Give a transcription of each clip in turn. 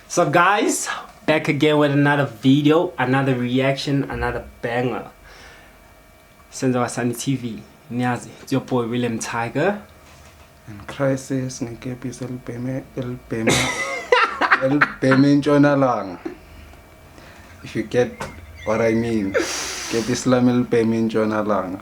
So guys, back again with another video, another reaction, another banger. Senza Wasani TV. Niyazi, it's your boy William Tiger. And crisis ngekepisi elibheme elibhema elibheme intshonalanga. If you get what I mean, kepisi lami elibheme intshonalanga.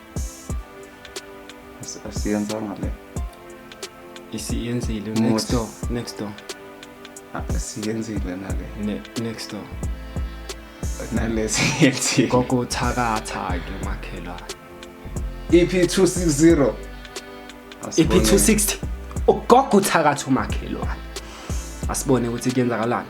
asiyenzanga le isiyenzile next door next door asiyenzile nale next door nalesiyenzile kokuthakatha ke makhelwane iphi 260 iphi 260 ugogo uthakatha umakhelwane asibone ukuthi kuyenzakalani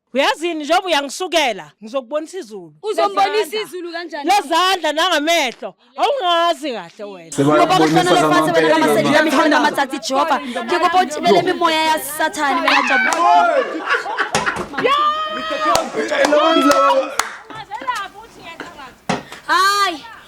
uyazini njengoba uyangisukela ngizokubonisa izulu uzombonisa izulu kanjani lezandla nangamehlo awungazi kahle wena ngoba kuhlona lefase wena kamaseli nami khona amatsatsi jehova ngikuba uthibele imimoya yasathane wena hayi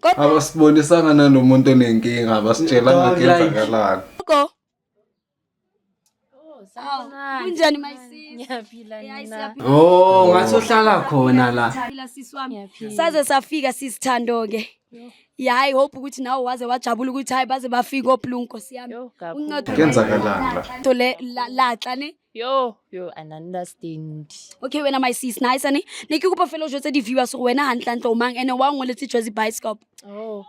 Kodwa abasibonisanga nalomuntu onenkinga abasitshelanga Don't like. kuyenzakalani gogo. Awu, Kunjani my sis? Ngiyaphila Yayi, nina. siyaphila Oh, ngathi uhlala khona la. siyaphila sis wami. Ngiyaphila. Saze safika sis Thando ke. Yayi hope ukuthi nawe waze wajabula ukuthi hayi baze bafika oplungu Nkosi yami. Yo, gagu. Uncedo Kuyenzakalani la? to le la- laxa ne yo yo an understand okay wena my sis nice ane ne ke kopa fela o jwetse di-viewers gore wena gantlentle o mang ene wa ngweletse jwazi bioscope oh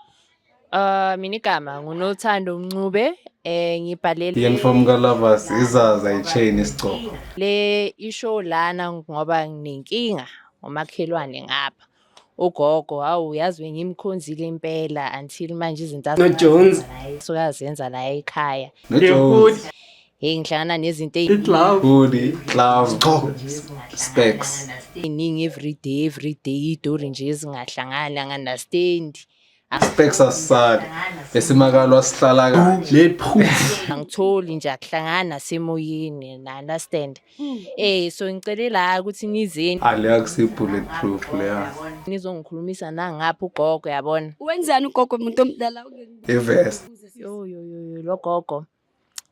Uh mina igama ngunothando Mncube eh ngibhalele Yenfom kaLavas izaza ichain isigcoko Le isho lana ngoba nginenkinga ngomakhelwane ngapha ugogo hawu yazi bengimkhonzile impela until manje izinto No Jones. azenza naye sukazenza la ekhaya No Jones. hey ngihlangana nezinto Hoodie, gloves, gqoko, specs. eziningi everyday everyday idori nje ezingahlangani anganastendi Specs asisali esimakalo asihlala kanje. Let proof. angitholi nje akuhlangani nasemoyeni na understand eh so ngicele la ukuthi nizeni Aleya kusi bullet proof leya. nizongikhulumisa nangapha ugogo yabona wenzani ugogo muntu omdala ungeke Evest. yo yo yo yo logogo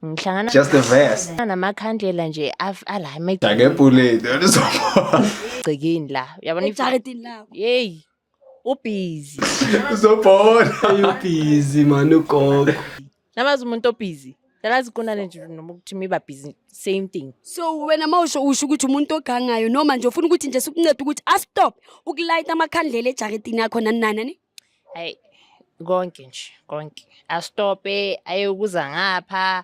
ngihlangana Just a vest. namakhandlela nje af- ala Jake bullet. Olizobona. emagcekeni la uyabona if- ejaridini lakho yeyi ubhizi Zobhola. Ayubhizi man ugogo. namazi umuntu obhizi nalazi kunane nje noma ukuthi miba bhizi same thing so wena uma usho usho ukuthi umuntu ogangayo noma nje ufuna ukuthi nje sikuncede ukuthi astop ukulayita amakhandlela ejaridini yakho nani nani nani hayi konke nje konke astope ayokuza ngapha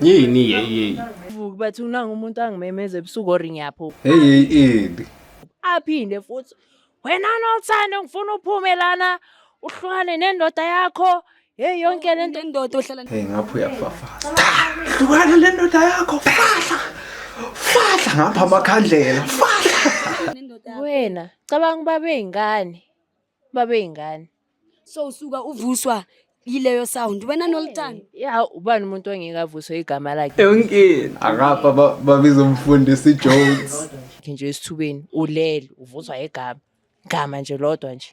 yini yeyi vuki bathi unanga umuntu angimemeza ebusuku or ngiyaphuka heyi ini aphinde futhi wena nothando ngifuna uphume lana uhlukane nendoda yakho heyi yonke le nto indoda ohlala heyi ngapha uyafafaza hlukane le ndoda yakho fahla fahla ngapha amakhandlela fahla wena cabanga uba beyingane babeyingane so usuka uvuswa yileyo sound wena nolutano ya ubani umuntu ongeke avuswe igama lakhe yonke akapha ba- babiza umfundisi ijones Ke nje esithubeni ulele uvuswa igama igama nje lodwa nje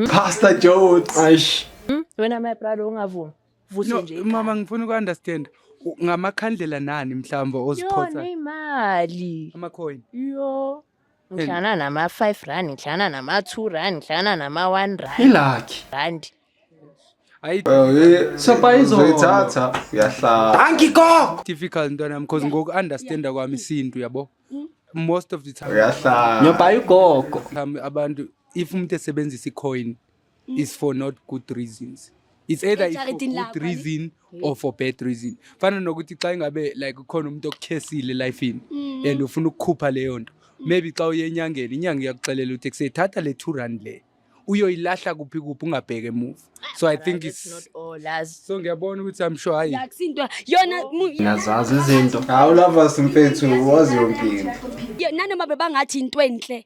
pastor jones Aish. Hmm? wena my brother ungavumi vuse No, nje mama ngifuna uku-understand U- ngamakhandlela nani mhlawumbe oziphotha yona imali amacoin yo ngidlana nama-five rand ngidlana nama-two rand ngidlana nama-one rand ilakhi rand Ayi Sopayizoyithatha uyahlala. Angiko. difficult ntwana yami because ngoku understanda kwami isintu yabo. Most of the time Uyahlala. Nyoba ugogo. time abantu if umuntu esebenzisa icoin is for not good reasons it's either it's for good reason or for bad reason fana nokuthi xa ingabe like ukhona umuntu okukhesile elifini mm. and ufuna ukukhupha leyo nto maybe xa uye enyangeni inyanga iyakuxelela ukuthi kuseyithatha le two rand le uyoyilahla kuphi kuphi ungabheke emuva so i think it's so ngiyabona ukuthi i'm sure hayi yakusintwa yona ngiyazazi izinto hawu lovers mfethu wazi yonke into nanoma bebangathi into enhle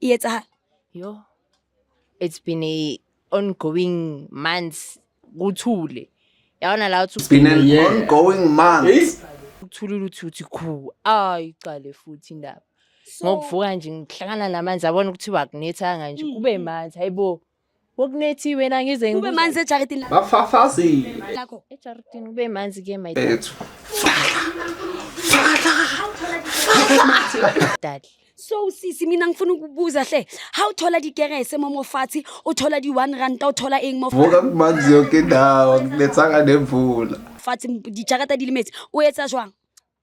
e etsahala yo it's been a ongoing months kuthule yabona la uthi been an Yeah. ongoing month uthulile uthi uthi khu ayi qale futhi indaba ngokuvuka nje ngihlangana namanzi abona ukuthi wakunethanga nje kube manzi hayibo Wokunethiwe na ngize kube manzi ejaridini lakho. Bafafazile. Lakho. Ejaridini kube manzi ke my dad. Ethu. Dad. So sisi mina ngifuna ukubuza hle. How thola di kerese momo fathi, uthola di 1 rand, uthola eng mo Vuka kumanzi yonke indawo, kunethanga nemvula. fathi dijarata di limetse. O etsa jwang?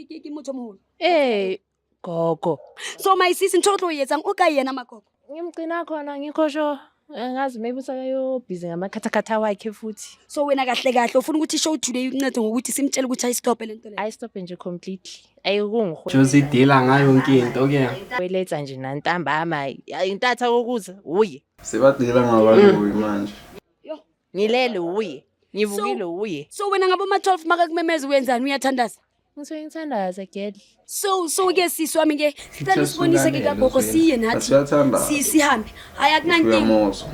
ke ke motho moholo ee gogo so my sis ntho o tlo e etsang o ka yena magogo ngimgcina khona ngikho sho angazi maybe usakayobhizi ngamakhathakhatha wakhe futhi so wena kahle kahle ufuna ukuthi show today uncede ngokuthi simtshele ukuthi ayistophe lento le ayistophe nje completely ayikungiho Jozi idila ngayo yonke into ke. weletha nje nantambama intatha kokuza uye Sebadila ngabantu manje. ngilele wuye ngivukile wuye so wena ngabo ma 12 makakumemeza uyenzani uyathandaza ngisuke ngithandaza gel so so ke sisi wami ke sicela usibonise ke kagogo siye nathi si sihambe hayi akunankinga uyamozwa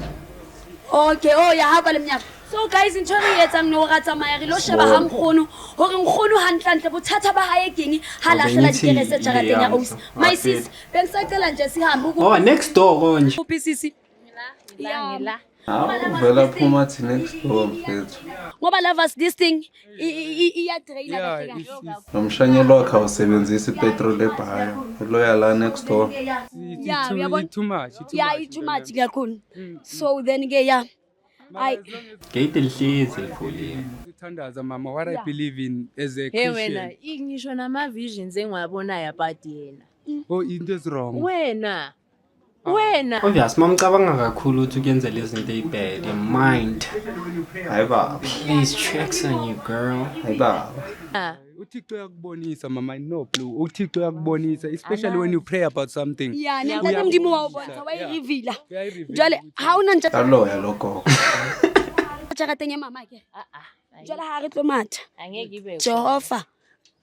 okay oh yahamba lemnyaka so guys ntho e re etsang no ra tsamaya re lo sheba ha nkgono hore nkgono hantlantle bothata ba hae keng ha lahlela dikerese jarateng ya osi my sis bengsacela nje sihambe oh next door konje uphisisi ngila awuvela phuma thi next door mfethu ngoba lovers this thing iyadraina kahle kahle nomshanyelo wakhe awusebenzisi ipetrol ebhaya uloya la next door yeah uyabona too much yeah it's too much kakhulu mm. so then ke yeah ay gate lihlezi livuliwe uthandaza mama what i believe in as a christian hey wena ngisho nama visions engiwabonayo about yena oh into is wrong wena wena obvious mamcabanga kakhulu ukuthi kuyenzela izinto eyibad your mind hayi baba please checks on you girl hayi baba ah. uthixo uyakubonisa mama i know blue uthixo uyakubonisa especially when you pray about something ya nentata mdimo wawubonisa wayirivila jwale ha una ntsha aloya logogo tšhagateng ya mama ke ah, ah, jwale ha re tlo matha jehova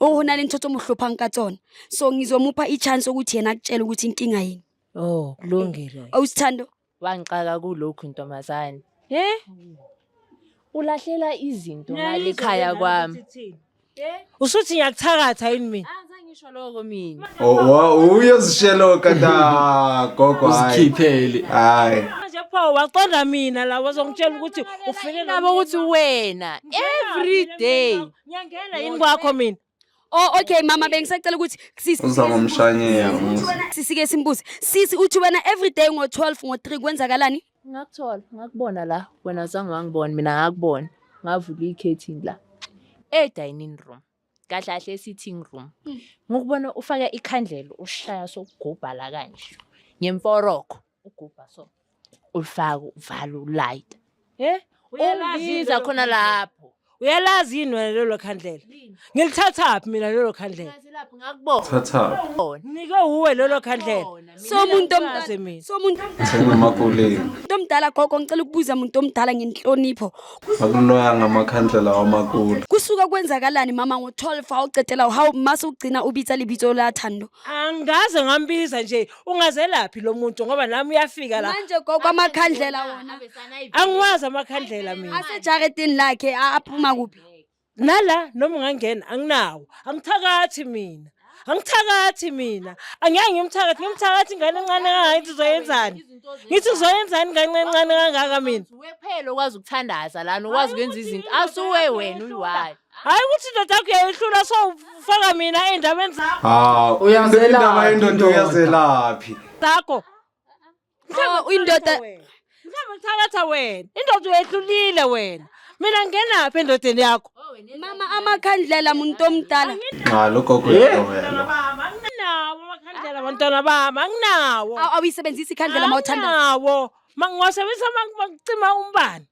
o ho na le ntho tse mo hlophang ka tsona so ngizomupha i-chance ukuthi yena akutshele ukuthi inkinga yini Oh, kulungile. awusithando Wangixaka kulokhu ntombazane. He? Ulahlela izinto ngale ekhaya kwami. Usuthi ngiyakuthakatha yini mina? Angize ngisho lokho mina. Oh, oh, uyozishelo kata gogo hayi. uzikhiphele Hayi. Manje pho waqonda mina la wazongitshela ukuthi ufike Labo ukuthi wena every day Ngiyangena yini kwakho mina? Oh okay mama bengisacela ukuthi sisi uza ngomshanyela sisike simbuze sisi uthi wena everyday ngo 12 ngo 3 kwenzakalani ngakuthola ngakubona la wena zange wangibona mina ngakubona ngavula i-curtain la e-dining room kahle kahle e-sitting room ngokubona ufaka ikhandlela ushaya sokugubha la kanje ngemforokho ugubha so ulifaka uvala ulayita eh ubiza khona lapho uyalazi yini wena lelo khandlela ngilithathaphi mina lelo khandlela nike wuwe lelo khandlela somuntu omdaze mina somuntu sengamakoleni umuntu omdala gogo ngicela ukubuza umuntu omdala ngenhlonipho akuloya ngamakhandlela wamakulu kusuka kwenzakalani mama ngo-12 awucedela uhawu mase ugcina ubiza libizo lathando angaze ngambiza nje ungazelaphi lo muntu ngoba nami uyafika la manje gogo amakhandlela wona angiwazi amakhandlela mina asejaredini lakhe a- aphuma kuphi nala noma ungangena anginawo angithakathi mina angithakathi mina angeke ngimthakathi ngimthakathi ingane encane kangaka ngithi uzoyenzani ngithi uzoyenzani ingane encane kangaka mina wephela okwazi ukuthandaza lana okwazi ukwenza izinto asuwe wena uyiwayo hayi ukuthi indoda yakho uyayihlula so ufaka mina ey'ndabeni zakho hawu Uyazelaphi indaba yendoda indoda? uyazelaphi zakho Oh, indoda mhlawumbe uthalatha wena indoda uyehlulile wena mina ngenaphi endodeni yakho mama amakhandlela muntu omdala nxa logogo uyagobela baba anginawo amakhandlela bantwana bami anginawo Aw- awuyisebenzisi ikhandlela mawuthanda anginawo mangiwasebenzisa mangiwacima umbani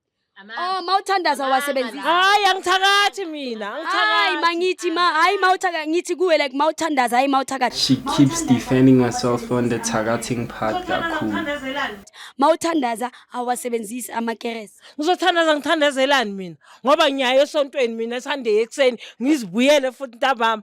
Oh mawuthandaza wasebenzisa. Hayi angithakathi mina, Hayi angithakathi. mangithi ma hayi mawuthaka ngithi kuwe like mawuthandaza hayi mawuthakathi. She keeps defending herself on the targeting part kakhulu. Mawuthandaza awasebenzisi amakerese. Ngizothandaza ngithandazelani mina ngoba ngiyaye esontweni mina Sunday ekuseni ngizibuyele futhi ntambama.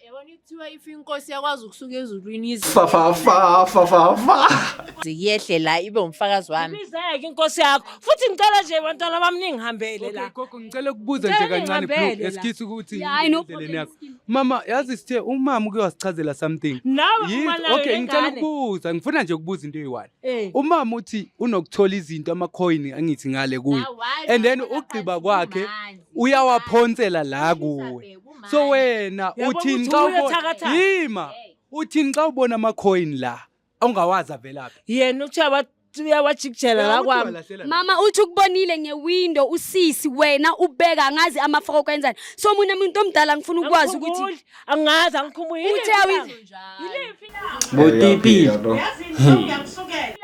Yabona kuthiwa if inkosi yakwazi ukusuka ezulwini ize Fa fa fa fa fa fa. yehle la ibe umfakazi wami. Ibizeke inkosi yakho. Futhi ngicela nje bantwana bami ningihambele Okay, la. gogo ngicela ukubuza nje Ngicela kancane ningihambele bro la. eskhithi ukuthi Yeah, I know indleleni yakho. problem. mama yazi sithe umama uke wasichazela something Nawe Yini? uma nayo okay ngicela lengane. ukubuza ngifuna nje ukubuza into eyi-one Eh. umama uthi unokuthola izinto amakhoyini angithi ngale kuyo and then ugqiba kwakhe uyawaphonsela la kuwe so wena uthini xa ubona yima uthini xa ubona amakhoyini la ongawazi avelaphi yena uthiwa uyawajikijela la kwami mama uthi ukubonile ngewindo usisi wena ubeka angazi amafoko kwenzani so mina muntu omdala ngifuna ukwazi ukuthi angazi angikhumuli uthe botipi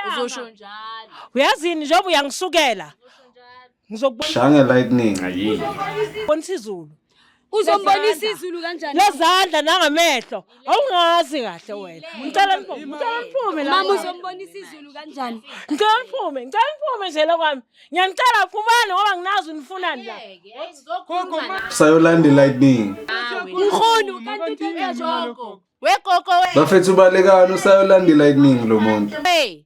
uzosho njalo uyazini njengoba uyangisukela ngizokubona Shange lightning. Ayi. bonisa izulu Uzombonisa izulu kanjani? lezandla nangamehlo awungazi kahle wena ngicela niphume ngicela niphume la Mama uzombonisa izulu kanjani? ngicela niphume ngicela niphume nje lokwami ngiyanicela phumani ngoba nginazi unifunani la Sayolandi lightning. Mkhulu kanti uthanda joko. Wegogo we. Bafethu ubalekani usayolandi lightning lo muntu. Hey,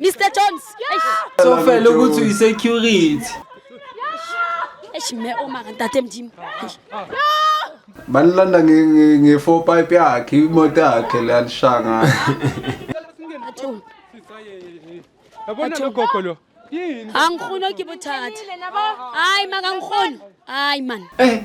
Mr Jones. Eish. So fela ukuthi uyi security. Eish me oma kantate mjim. Eish. Banilanda nge- nge- nge-four pipe yakhe imoto yakhe le alishanga Athu. yabona lo gogo lo yini Angikhono ke bothatha. Hayi maka ngikhono. Hayi man. Eh,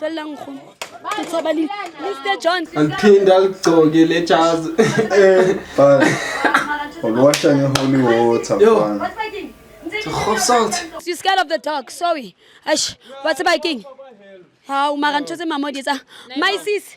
felelang nkgono ke tshaba le mr john aliphinde aligcoke le jazi uliwasha nge-holy water mfana Hope salt. You scared of the dog, sorry. Ash, what's about king? How, Marancho, my mother, my sis.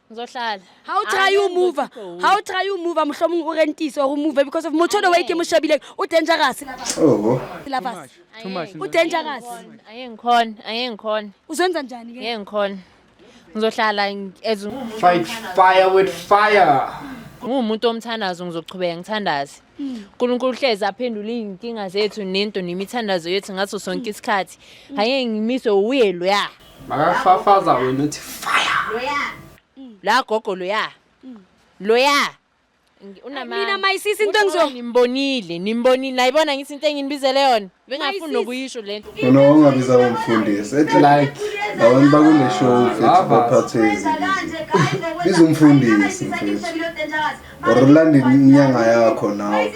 ngizohlala ha o try u move ha o try u move mohlomong o rentise or o move because of motho way ke mo shebileng o dangerous oho syllabus Too much. u dangerous aye ngikhona aye ngikhona uzenza njani ke ngeke ngikhona ngizohlala ngi- as fight fire with fire ngiwumuntu omthandazo ngizoqhubeka ngithandaze uNkulunkulu uhlezi aphendula izinkinga zethu nento nemithandazo yethu ngaso sonke isikhathi haye ngimiswe uye loya makafafaza wena uthi fire loya la gogo loya loya unamani mina mayisisi into engizo nimbonile nimbonile nayibona ngithi into engini bizele yona bengafuni nokuyisho le nto Wena wangabiza umfundisi ethi like abantu bakule show mfethu Lovers. baphathe izinto. Biza umfundisi mfethu. Or ulande inyanga yakho nawe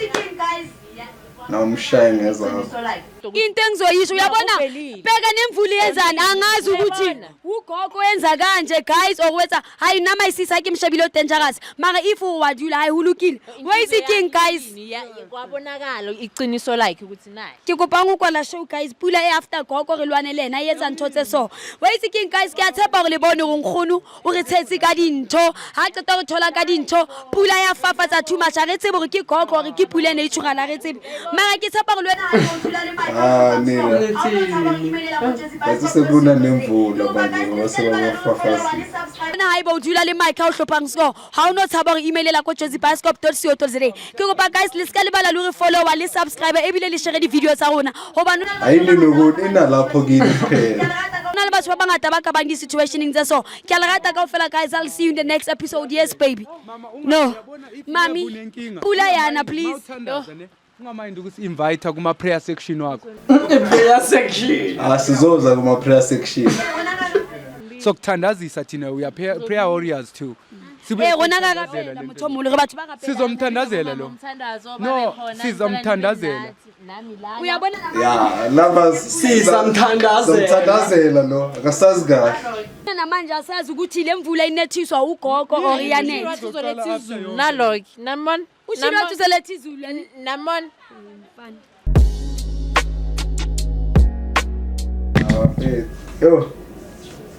nawe umshaye ngezakho. into engizoyisho uyabona Uvelile. bheka nemvula yenzani angazi ukuthi Uyabona. ugogo wenza kanje guys okwenza ha ina mai sisa ke mshebile odangerous mara if wa dula hayi hulukile where is it king guys kwabonakala iqiniso like ukuthi naye ke kopa ngokwala show guys pula e after gogo re lwane le ena yetsa ntho tse so where is it king guys ke a tshepa gore le bone gore nkgono o re tshetse ka dintho ha qeta go thola ka dintho pula ya fafatsa too much a re tsebe gore ke koko gore ke pula e ne e tshogana a re tsebe mara ke tshepa gore le wena Ah, nina. Kasi sekuna nemvula manje ngoba sebabafafazile. na haeba o dula le mike ha o hlophang score ha o no tshaba gore emailela ko jozi bioscope co za ke kopa guys le seka lebala le gore follower le subscribe ebile le share di-video tsa rona gobane Ayilimi ukuthi inalapho kini phela. na le batho ba bangata ba ka bang di-situationeng tse so ke a le rata kao fela guys i'll see you in the next episode yes baby no mami pula yana please no. ungamayindi ukuthi invite kuma prayer section wakho prayer section asizoza ah, kuma prayer section so kuthandazisa thina we are prayer warriors too Eh kona ka kapela motho molo re batho ba kapela. Sizomthandazela lo. No, sizomthandazela. nami lana uyabona ya lava sisa mthandazela mthandazela lo akasazi kahle namanje asazi ukuthi le mvula inethiswa ugogo or iyanetha uzoletha izulu naloki namon ushilo wathi uzoletha izulu namon mfana Yo.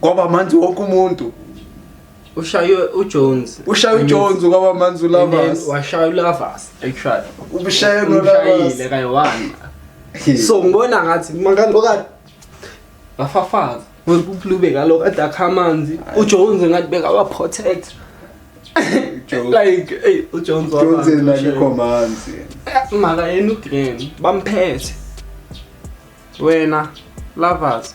kwaba manzi wonke umuntu ushaywe uJones ushaywe uJones kwaba manzi uLavas washaya uLavas actually ubushaye noLavas kayi one so ngibona ngathi makalokade bafafaza kulube kaloko ade akha amanzi ujones ngathi bekawaprotect like ey ujones wabakho manzi maka yena ugreen bamphethe wena lovers